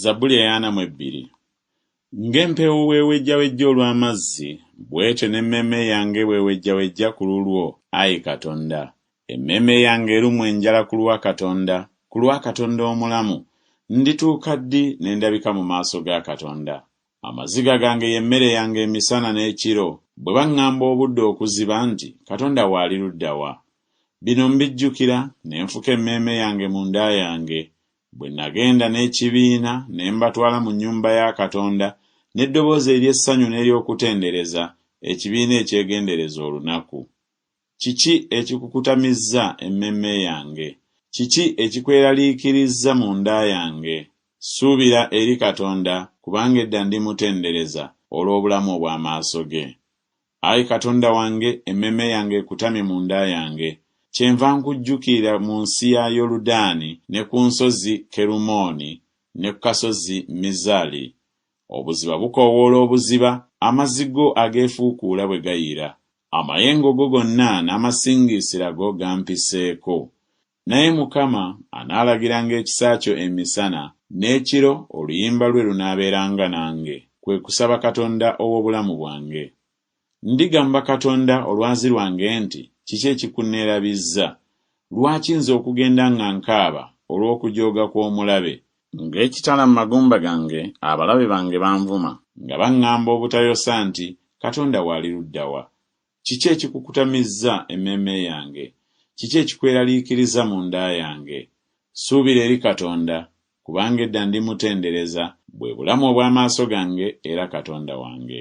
Zabbuli eyaana mu ebbiri. Ng'empeewo bw'ewejjawejja olw'amazzi, bw'etyo n'emmeeme yange bw'ewejjawejja ku lulwo, ayi Katonda. Emmeeme yange erumwa enjala ku lwa Katonda, ku lwa Katonda omulamu. Ndituuka ddi ne ndabika mu maaso ga Katonda? Amaziga gange y'emmere yange emisana n'ekiro, bwe baŋŋamba obudde okuziba nti, Katonda wo ali ludda wa? Bino mbijjukira, ne nfuka emmeeme yange munda yange, Bwe nnagenda n'ekibiina ne mbatwala mu nnyumba ya Katonda n'eddoboozi ery'essanyu n'ery'okutendereza, ekibiina ekyegendereza olunaku. Kiki ekikukutamizza emmeeme yange? Kiki ekikweraliikirizza munda yange? Ssuubira eri Katonda, kubanga edda ndimutendereza olw'obulamu obw'amaaso ge. Ayi Katonda wange, emmeeme yange ekutamye mu nda yange. Kyenva nkujjukiira mu nsi ya Yoludaani, ne ku nsozi Kerumooni, ne ku kasozi Mizari. Obuziba bukoowoola obuziba, amazzi go ageefuukuula bwe gayiira. Amayengo go gonna n'amasingiisira go gampiseeko. Naye Mukama anaalagiranga ekisa kyo emisana, n'ekiro oluyimba lwe lunaabeeranga nange, kwe kusaba Katonda ow'obulamu bwange. Ndigamba Katonda Olwazi lwange nti, Kiki ekikunneerabizza? Lwaki nze okugenda nga nkaaba olw'okujooga kw'omulabe? Ng'ekitala mu magumba gange abalabe bange banvuma. Nga baŋŋamba obutayosa nti, Katonda wo ali ludda wa? Kiki ekikukutamizza emmeeme yange? Kiki ekikweraliikiriza mu nda yange? Suubira eri Katonda, kubanga edda ndimutendereza, bwe bulamu obw'amaaso gange era Katonda wange.